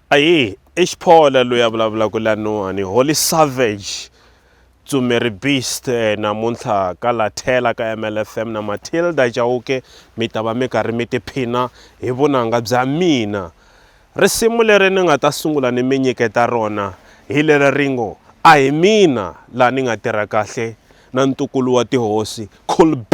Ahee i Xiphola loyi a vulavulaka lanuwani Holy Savage Tsumeri Beast eh, namuntlha ka lathela ka MLFM na Matilda Chauke mi ta va mi karhi mi tiphina hi vunanga bya mina risimu leri ni nga ta sungula ni mi nyiketa rona hi leri ri ngo a hi mina laha ni nga tirha kahle na ntukulu wa tihosi Cool B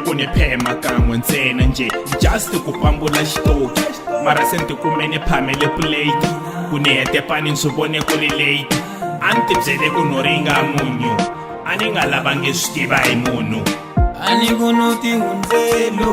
ku ni phema kan'we ntsena njhe just ku pambula xitoki mara se ni tikume ni phamele puleti ku ni hete pani ni swi vone ku ri late a ni tibyele ku no ringa munyu a ni nga lavangi swi tiva hi munhu a ni ku no tihundzelo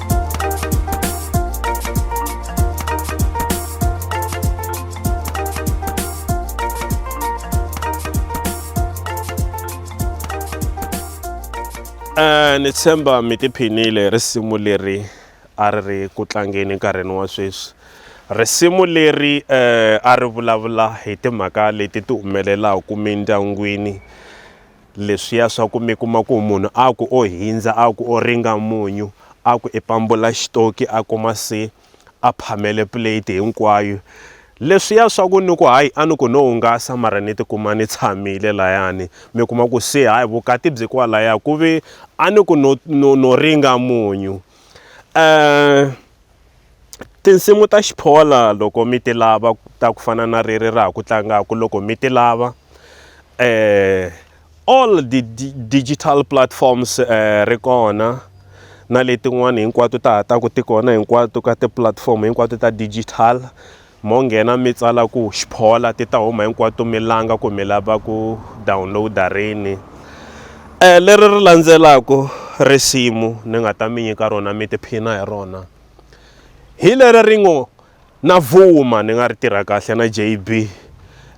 Eh, ni tshemba mi tiphinile risimu leri a ri ri ku tlangeni nkarhini wa sweswi risimu leri eh, a ri vulavula hi timhaka leti ti humelelaka mindyangwini leswiya swa ku mi kuma ku munhu a ku o hindza a ku o ringa munyu a ku i pambula xitoki a kuma se a phamele plate hinkwayo leswiya swa ku ni ku hayi a ni ku no hungasa mara ni tikuma ni tshamile layani mi kuma ku se hayi vukati byi kwalaya ku ve a ni ku no no no ringa munyu um Tinsimu ta Xiphola loko mi ti lava ta ku fana na reri ra ha ku tlangaka loko mi ti lava all digital platforms ri kona na letin'wana hinkwato ta ha ta ku ti kona hinkwato ka ti-platform hinkwato ta digital mo nghena mi tsala ku xiphola ti ta huma hinkwato mi langa ku mi lava ku download-a rini um leri ri landzelaka risimu ni nga ta mi nyika rona mi tiphina hi rona hi leri ri ngo na vuma ni nga ri tirha kahle na JB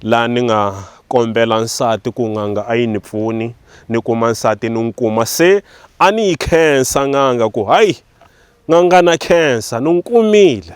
laha ni nga kombela nsati ku n'anga a yi ni pfuni ni kuma nsati ni n'wi kuma se a ni yi khensa n'anga ku hayi n'anga na khensa ni n'wi kumile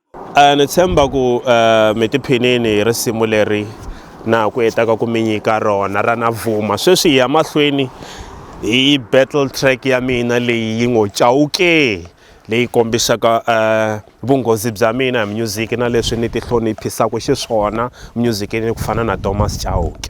Uh, ni tshemba ku uh, mi tiphinini hi risimu leri na ku hetaka ku mi nyika rona ra na vuma sweswi hi ya mahlweni hi battle track ya mina leyi yi ngo chawukee leyi kombisaka uh, vunghozi bya mina hi music na leswi ni tihloniphisaka xiswona musicini ku fana na thomas chawuke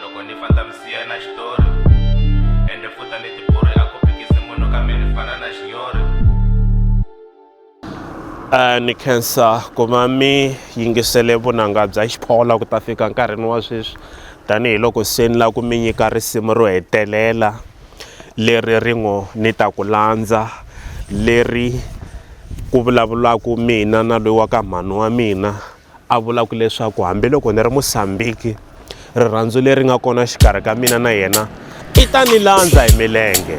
loko ni fanta misiya na xitori ende futa ni tipuri a ku phikisi munhu kambe ni fana na xinyori Uh, ni khensa ku va mi yingisele vunanga bya xiphola ku ta fika nkarhini wa sweswi tanihiloko se ni lava ku mi nyika risimu ro hetelela leri ri ngo ni ta ku landza leri ku vulavulaka mina na loyi wa ka mhani wa mina A vula ku leswaku hambiloko ni ri Musambiki, rirhandzu leri nga kona xikarhi ka mina na yena i ta ni landza hi milenge.